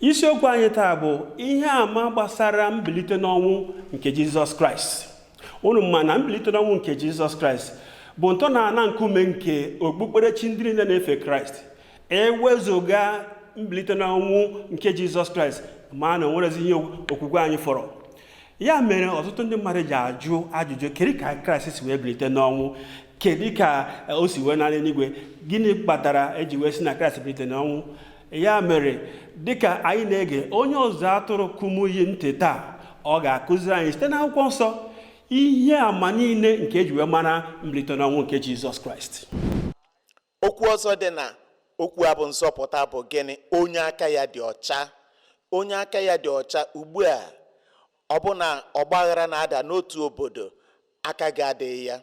isiokwu anyị taa bụ ihe àmà gbasara mbilite n'ọnwụ nke jizọs kraịst unu ma na mbilite n'ọnwụ nke jizọs kraịst bụ ntọ na ana nkume nke okpukperechi ndị niile na-efe kraịst ewezuga mbilite n'ọnwụ nke jizọs kraịst ma na onwerezi ihe okwukwe anyị fọrọ ya mere ọtụtụ ndị mmadụ ji ajụ ajụjụ kedu ka kraịst si wee bilite n'ọnwụ kedu ka o si wee naa n'eluigwe gịnị kpatara eji wee sị na kraịst bilite n'ọnwụ ya mere dịka anyị na-ege onye ọzụzụ atụrụ kumuyi ntị taa ọ ga-akụziri anyị site n'akwụkwọ nsọ ihe ama niile nke eji wee mara mbilite n'ọnwụ nke jizọs kraịst okwu ọzọ dị na okwu a bụ nzọpụta bụ gịnị onye aka ya dị ọcha onye aka ya dị ọcha ugbu a ọ bụ na ọgbaghara na-ada n'otu obodo aka gị adịghị ya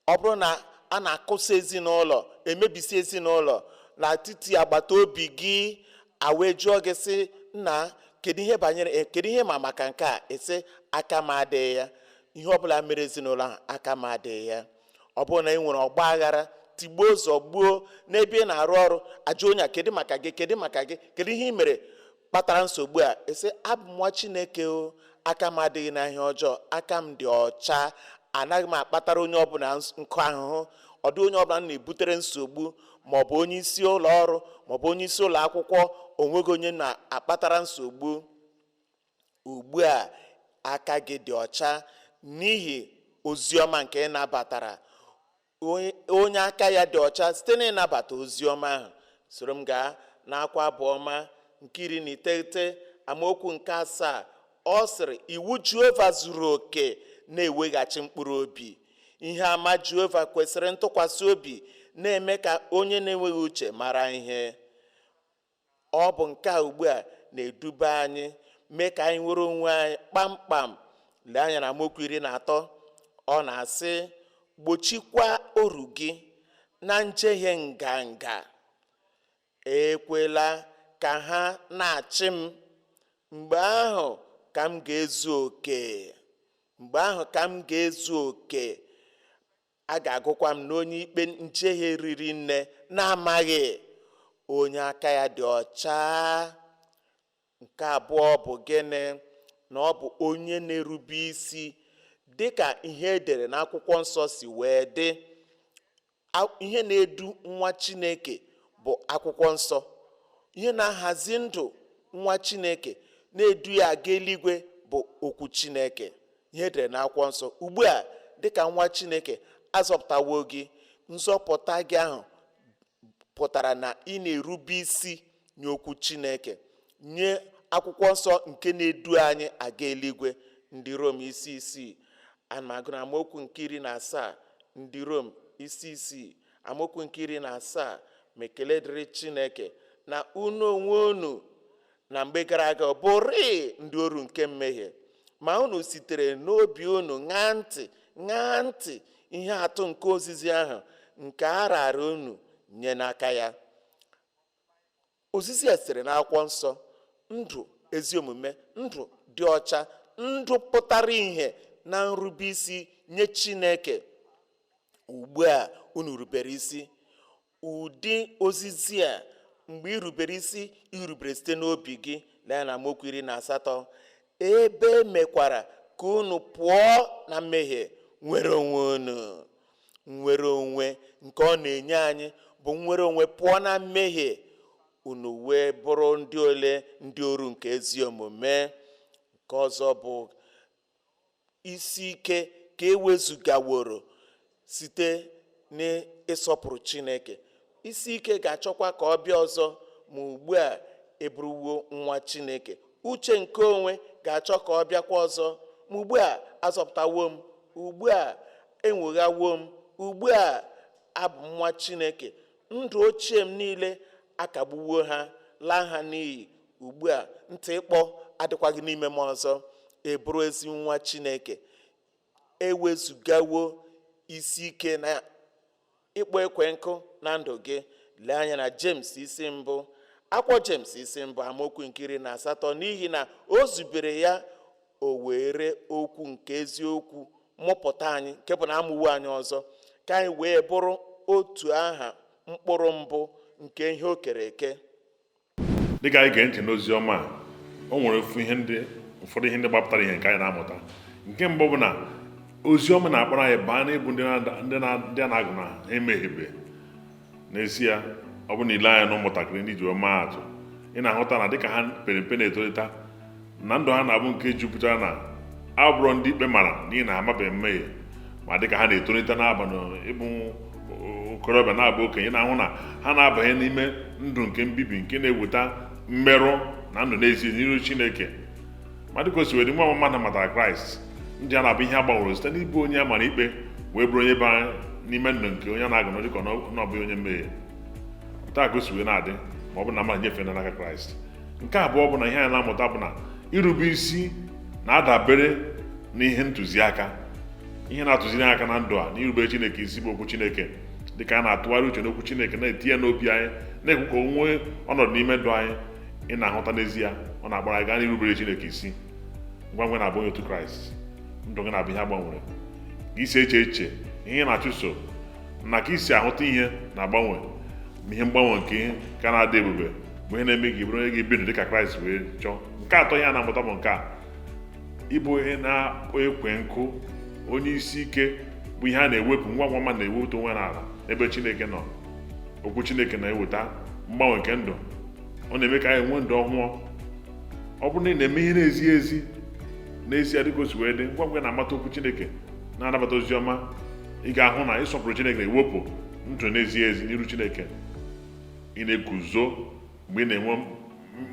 ọ bụrụ na a na-akụsa ezinụlọ emebisi ezinụlọ n'etiti agbata obi gị a wee jụọ gị sị nna kedu ihe banyere eh, kedu ihe ị ma maka nke a ị sị aka m adịghị ya ihe ọbụla mere ezinụlọ ahụ aka m adịghị ya ọ bụrụ na e nwere ọgba aghara tigbuo zọgbuo n'ebe ị na-arụ ọrụ a jụọ onye a kedu maka gị kedu maka gị kedu ihe ị mere kpatara nsogbu a ị sị abụ m nwa chineke o aka m adịghị na ihe ọjọọ aka m dị ọcha anaghị m akpatara onye ọbụla nkụ ahụhụ ọ dịghị onye ọbụla m na-ebutere nsogbu ma ọ bụ onye isi ụlọ ọrụ ma ọ bụ onye isi ụlọ akwụkwọ onweghị onye na-akpatara nsogbu ugbu a aka gị dị ọcha n'ihi ozi ọma nke ị nabatara onye aka ya dị ọcha site n'ịnabata ozi ọma ahụ soro m gaa n'akwụkwọ abụ ọma nke iri na iteghete amaokwu nke asaa ọ sịrị iwu jehova zuru oke na-eweghachi mkpụrụ obi ihe ama jehova kwesịrị ntụkwasị obi na-eme ka onye na-enweghị uche mara ihe ọ bụ nke a ugbu a na-eduba anyị mee ka anyị nwere onwe anyị kpamkpam lee anya na amaokwu iri na atọ ọ na-asị gbochikwa oru gị na njehie nganga ekwela ka ha na-achị m mgbe ahụ ka m ga-ezu oke mgbe ahụ ka m ga-ezu oke a ga-agụkwa m n'onye ikpe njehie riri nne na-amaghị onye aka ya dị ọcha nke abụọ bụ gịnị na ọ bụ onye na-erube isi dị ka ihe edere n'akwụkwọ nsọ si wee dị ihe na-edu nwa chineke bụ akwụkwọ nsọ ihe na-ahazi ndụ nwa chineke na-edu ya aga eluigwe bụ okwu chineke ihe edere na akwụkwọ nsọ ugbu a dịka nwa chineke azọpụtawo gị nzọpụta gị ahụ pụtara na ị na-erube isi nye okwu chineke nye akwụkwọ nsọ nke na-edu anyị aga eluigwe ndị rom isi isii ana m agụ na amaokwu nke iri na asaa ndị rom isi isii amaokwu nke iri na asaa ma ekele dịrị chineke na unu onwe unu na mgbe gara aga bụrịị ndị oru nke mmehie ma unu sitere n'obi unu ṅaa ntị ṅaa ntị ihe atụ nke ozizi ahụ nke a raara unu nye n'aka ya ozizi a sitere n'akwụkwọ nsọ ndụ ezi omume ndụ dị ọcha ndụ pụtara ihe na nrube isi nye chineke ugbu a unu rubere isi Ụdị ozizi a mgbe i rubere isi i rubere site n'obi gị lee na amaokwu iri na asatọ ebe e mekwara ka unu pụọ na mmehie nwere onwe unu nnwere onwe nke ọ na-enye anyị bụ nnwere onwe pụọ na mmehie unu wee bụrụ ndị ole ndị oru nke ezi omume nke ọzọ bụ isi ike ka ewezugaworo site n'ịsọpụrụ Chineke. Isi ike ga-achọkwa ka ọ bịa ọzọ ma ugbu a ị bụrụwo nwa Chineke. Uche nke onwe ga-achọ ka ọ bịakwa ọzọ ma ugbu a azọpụtawo m, ugbu a enwoghawo m, ugbu a abụ m nwa Chineke. Ndụ ochie m niile akagbuwo ha, laa ha n'iyi. Ugbu a, ntị ịkpọ adịkwaghị n'ime m ọzọ, ị bụrụ ezi nwa Chineke. Ewezugawo isi ike na ịkpọ ekwe nkụ na ndụ gị. Lee anya na Jems isi mbụ. Akwụkwọ Jems isi mbụ amaokwu nke iri na asatọ n'ihi na o zubere ya o were okwu nke eziokwu mụpụta anyị nke bụ na amụwo anyị ọzọ ka anyị wee bụrụ otu aha mkpụrụ mbụ nke ihe o kere eke. dịka anyị gee ntị n'ozi ọma a o nwere ofu ihe ndị ụfọdụ ihe ndị gbapụtara ihe nke anyị na-amụta nke mbụ bụ na ozi ọma na-akpọrọ anyị baa n'ịbụ ndị na- ndị na- ndị a na-agụ na ha emehiebe n'ezie ọ bụrụ na i lee anya na ụmụntakịrị ndị e ji wee maa atụ ị na-ahụta na dịka ha pere mpe na-etolite na ndụ ha na-abụ nke jupụtara na abụrọ ndị ikpe mara n'ihi na ha amabeghị mmehie ma dịka ha na-etolite na-aba n'ịbụ okorobịa na-abụ okenye na-ahụ na ha na-abanye n'ime ndụ nke mbibi nke na-eweta mmerụ na ndụ n'ezie n'iru Chineke ma dịka o si wee dị nwa mmadụ matara Kraịst ndụ ya na-abụ ihe a gbanwere site n'ịbụ onye a mara ikpe wee bụrụ onye bara n'ime ndụ nke onye a na-agụ na ọ dịka na ọ bụghị onye mmehie otu a ka o si wee na-adị ma ọ bụ na mmadụ nyefee n'aka Kraịst nke abụọ bụ na ihe anyị na-amụta bụ na irube isi na-adabere n'ihe ntụziaka ihe na-atụziri anyị aka na ndụ a n'irubere chineke isi bụ okwu chineke dịka a na-atụgharị uche n'okwu chineke na-etinye n'obi anyị na-ekwe ka o nwee ọnọdụ n'ime ndụ anyị ị na-ahụta n'ezie ọ na-agbara anyị gaa n'irubere chineke isi ngwa ngwa na-abụ onye otu kraịst ndụ gị na-abụ ihe agbanwere ka i si eche echiche ihe ị na-achụso na ka i si ahụta ihe na-agbanwe ma ihe mgbanwe nke ihe ka na-adị ebube bụ ihe na-eme gị bụrụ onye ga-ebi ndụ dịka kraịst wee chọọ nke atọ anyị na-amụta bụ nke a ịbụ onye na-akpọ ekwe nkụ onye isi ike bụ ihe a na-ewepụ ngwa ngwa ma na-ewepụta onwe n'ala ebe chineke nọ okwu chineke na-eweta mgbanwe nke ndụ ọ na-eme ka anyị nwee ndụ ọhụụ ọ bụrụ na ị na-eme ihe na-ezighị ezi n'ezie dịka o si wee dị ngwa ngwa na-amata okwu chineke na-anabata ozi ọma ị ga-ahụ na ịsọpụrụ chineke na-ewepụ ndụ na-ezighị ezi n'iru chineke ị na-eguzo mgbe ị na-enwe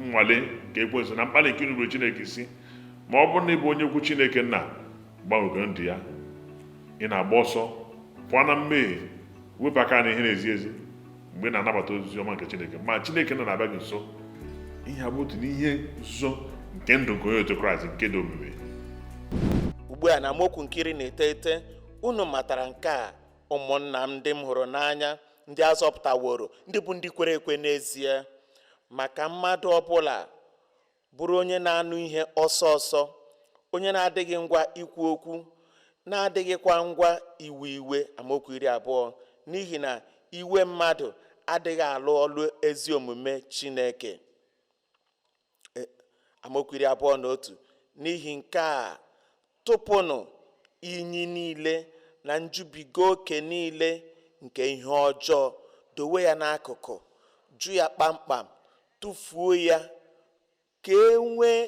nnwale nke ekwensu na mkpali nke inupụrụ chineke isi ma ọ bụrụ na ị bụ onye okwu chineke nna gbanwego ndụ ya ị na-agba ọsọ pụọ na mmehie wepụ aka na ihe na-ezighị ezi mgbe ị na-anabata ozi ọma nke chineke ma chineke nna na-abịa gị nso ihe a bụ otu n'ihe nzuzo nke ndụ nke onye otu kraịst nke dị omimi ugbu a na amaokwu nke iri na iteghete unu matara nke a ụmụnna m ndị m hụrụ n'anya ndị azọpụtaworo ndị bụ ndị kwere ekwe n'ezie ma ka mmadụ ọbụla bụrụ onye na-anụ ihe ọsọ ọsọ onye na-adịghị ngwa ikwu okwu na-adịghịkwa ngwa iwe iwe amaokwu iri abụọ n'ihi na iwe mmadụ adịghị alụ ọlụ ezi omume Chineke e, amaokwu iri abụọ na otu n'ihi nke a tụpụnụ inyi niile na njubiga oke niile nke ihe ọjọọ dowe ya n'akụkụ jụ ya kpamkpam tụfuo ya ka e nwee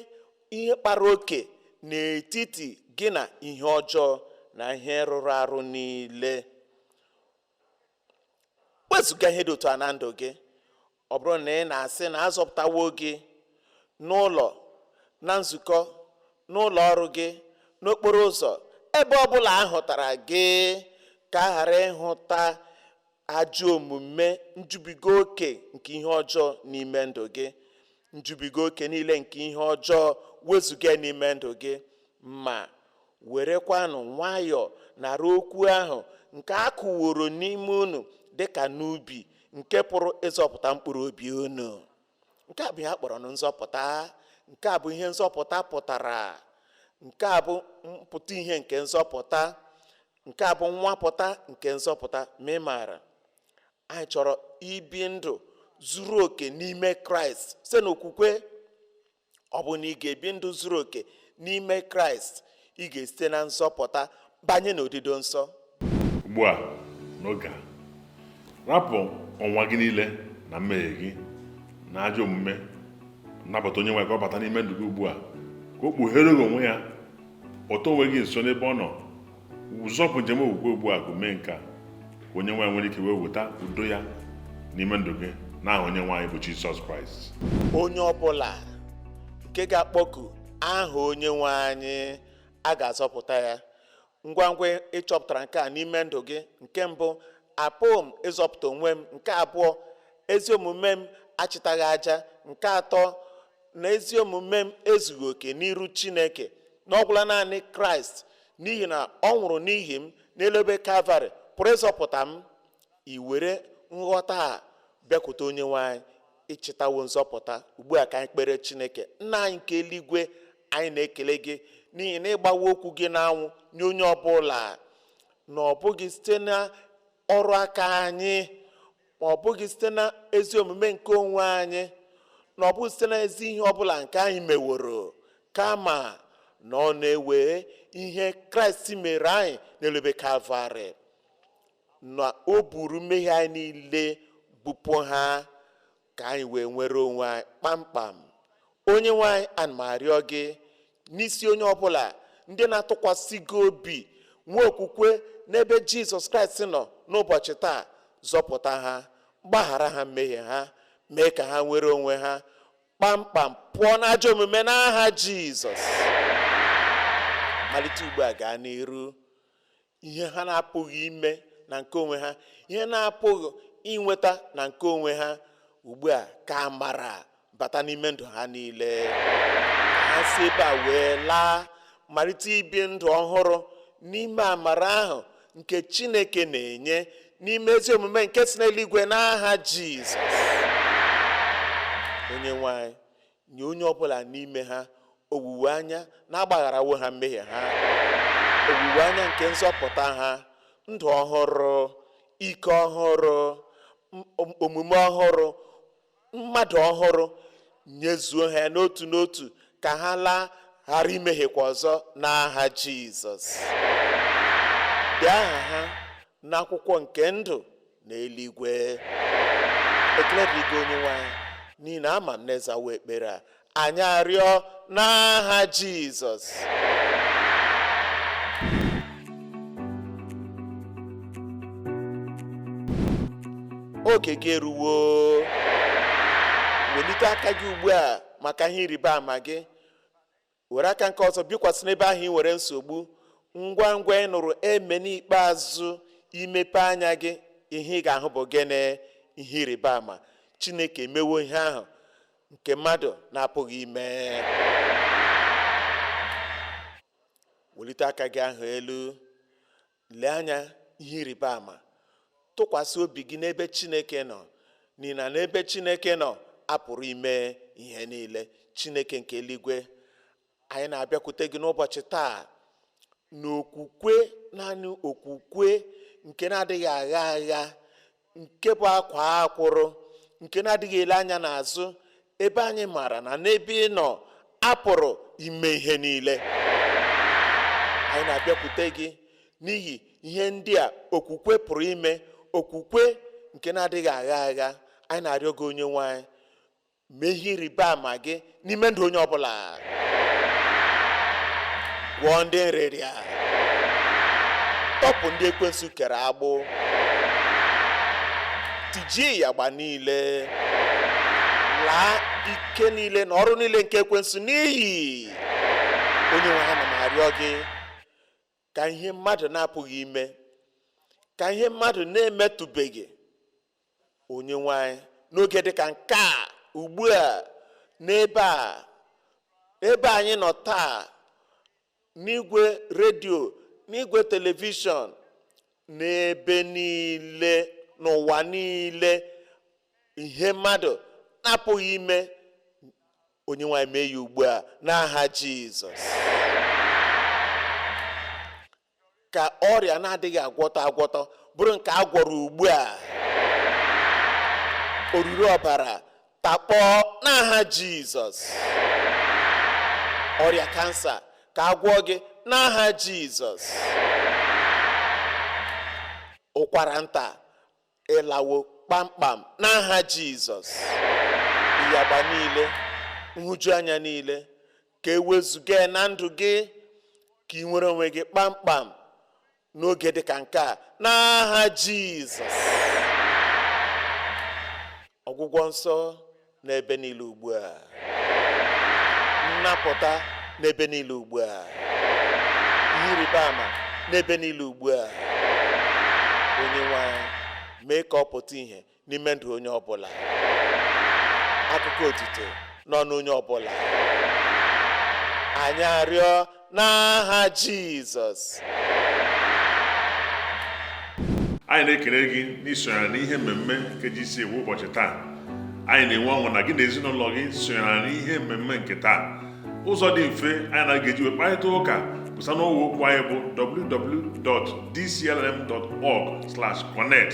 ihe kpara oke n'etiti gị na ihe ọjọọ na ihe rụrụ arụ niile wezụga ihe dị otu a na ndụ gị ọ bụrụ na ị na-asị na azọpụtawo gị n'ụlọ na nzukọ n'ụlọ ọrụ gị n'okporo ụzọ ebe ọ bụla a hụtara gị ka a ghara ịhụta ajọ omume njubiga oke nke ihe ọjọọ n'ime ndụ gị njubiga oke niile nke ihe ọjọọ wezụga n'ime ndụ gị ma Werekwanụ nwayọọ nara okwu ahụ nke a kụworo n'ime unu dị ka n'ubi nke pụrụ ịzọpụta mkpụrụ obi unu. Nke a bụ ihe a kpọrọ nụ nzọpụta. Nke a bụ ihe nzọpụta pụtara. Nke a bụ mpụta ihe nke nzọpụta. Nke a bụ nnwapụta nke nzọpụta. Ma ị maara, anyị chọrọ ibi ndụ zuru oke n'ime Kraịst site n'okwukwe. ọ bụ na ị ga-ebi ndụ zuru oke n'ime kraịst ị ga-esite na nzọpụta banye n'odido nsọ ugbu a n'oge a rapụ ọnwa gị niile na mmehie gị na ajọ omume nabata onye nwe ka ọ bata n'ime ndụ gị ugbu a ka o kpughere gị onwe ya kpọta onwe gị nso n'ebe ọ nọ ị zọpụ njem okwukwe ugbu a gị mee nke a ka onye nwe anyị nwere ike wee weta udo ya n'ime ndụ gị n'aha onye nwe anyị bụ jizọs kraịst onye ọbụla nke ga-akpọku aha onye nwe anyị a ga-azọpụta ya ngwa ngwa ị chọpụtara nke a n'ime ndụ gị nke mbụ apụghị m ịzọpụta onwe m nke abụọ ezi omume m achịtaghị aja nke atọ na ezi omume m ezughị oke n'iru chineke na ọ gwụla naanị kraịst n'ihi na ọ nwụrụ n'ihi m n'elu obe kalvarị pụrụ ịzọpụta m i were nghọta a bịakwute onye nwe anyị ị chịtawo nzọpụta ugbu a ka anyị kpere chineke nna anyị nke eluigwe anyị na-ekele gị n'ihi na ị gbawo okwu gị n'anwụ nye onye ọbụla na ọ bụghị site na ọrụ aka anyị ma ọ bụghị site na ezi omume nke onwe anyị na ọ bụghị site na ezi ihe ọbụla nke anyị meworo kama na ọ na-ewe ihe kraịst mere anyị n'elu obe kalvarị na o buru mmehie anyị niile bupụ ha ka anyị wee nwere onwe anyị kpamkpam onye nwe anyị ana m arịọ gị n'isi onye ọbụla ndị na-atụkwasị gị obi nwee okwukwe n'ebe jizọs kraịst nọ n'ụbọchị taa zọpụta ha gbaghara ha mmehie ha mee ka ha nwere onwe ha kpamkpam pụọ n'ajọ omume n'aha jizọs malite ugbu a gaa n'iru ihe ha na-apụghị ime na nke onwe ha ihe na-apụghị inweta na nke onwe ha ugbu a ka amara bata n'ime ndụ ha niile ha si ebe a wee laa malite ibi ndụ ọhụrụ n'ime amara ahụ nke chineke na-enye n'ime ezi omume nke si n'eluigwe n'aha jizọs onye nwe anyị Nye onye ọ bụla n'ime ha owuwe anya na a gbagharawo ha mmehie ha, owuwe anya nke nzọpụta ha, ndụ ọhụrụ, ike ọhụrụ, omume ọhụrụ, mmadụ ọhụrụ, nyezuo ha n'otu n'otu ka ha laa ghara imehiekwa ọzọ n'aha Jizọs. Dee aha ha n'akwụkwọ nke ndụ n'eluigwe ekele dịrị gị onye nwe anyị n'ihi na ama m na ị zawo ekpere a anyị arịọ n'aha jizọs oge gị eruwo welite aka gị ugbu a maka ihe ịrịba ama gị were aka nke ọzọ bikwasị n'ebe ahụ ị nwere nsogbu ngwa ngwa ị nụrụ amen ikpeazụ i mepee anya gị ihe ị ga-ahụ bụ gịnị ihe ịrịba ama chineke emewo ihe ahụ nke mmadụ na-apụghị ime welite aka gị ahụ elu Lee anya ihe ịrịba ama. Tụkwasị obi gị n'ebe Chineke nọ, n'ihi na n'ebe Chineke nọ a pụrụ ime ihe niile. Chineke nke eluigwe, anyị na-abịakwute gị n'ụbọchị taa n'okwukwe, naanị okwukwe nke na-adịghị agha agha, nke bụ akwaa akwụrụ nke na-adịghị ele anya n'azụ ebe anyị maara na n'ebe ị nọ a pụrụ ime ihe niile anyị na-abịakwute gị n'ihi ihe ndị a okwukwe pụrụ ime okwukwe nke na-adịghị agha agha anyị na-arịọ gị onye nwe anyị mee ihe ịrịba ama gị n'ime ndụ onye ọbụla gwọọ ndị nrịrịa tọpụ ndị ekwensu kere agbụ tijie ịyagba niile laa ike niile na ọrụ niile nke ekwensu n'iyi onye nwe anyị ana m arịọ gị ka ihe mmadụ na-apụghị ime ka ihe mmadụ na-emetụbeghị onye nwe anyị n'oge dịka nke a ugbu a n'ebe a ebe anyị nọ taa n'igwe redio n'igwe telivishọn n'ebe niile n'ụwa niile ihe mmadụ na-apụghị ime Onyenwe anyị mee ya ugbu a n'aha Jizọs. Ka ọrịa na-adịghị agwọtọ agwọtọ bụrụ nke a gwọrọ ugbu a. Oruru ọbara takpọọ n'aha Jizọs. Ọrịa kansa ka a gwọọ gị n'aha Jizọs. Ụkwara nta ịlawo kpamkpam n'aha Jizọs ịyagba niile nhụjuanya niile ka e wezuga na ndụ gị ka i nwere onwe gị kpamkpam n'oge dị ka nke a n'aha Jizọs ọgwụgwọ nsọ n'ebe niile ugbu a nnapụta n'ebe niile ugbu a ihe ịrịba ama n'ebe niile ugbu a Onyenwe anyị mee ka ọ pụta ihe n'ime ndụ onye ọbụla akụkọ otito n'ọnụ onye ọbụla anyị arịọ n'aha Jizọs anyị na-ekele gị n'isonyere n'ihe mmemme nke GCK ụbọchị taa anyị na-enwe ọṅụ na gị na ezinụlọ gị sonyere n'ihe mmemme nke taa ụzọ dị mfe anyị na gị ga-eji wee kparịta ụka bụ site n'ọwa okwu anyị bụ www.dclm.org/connect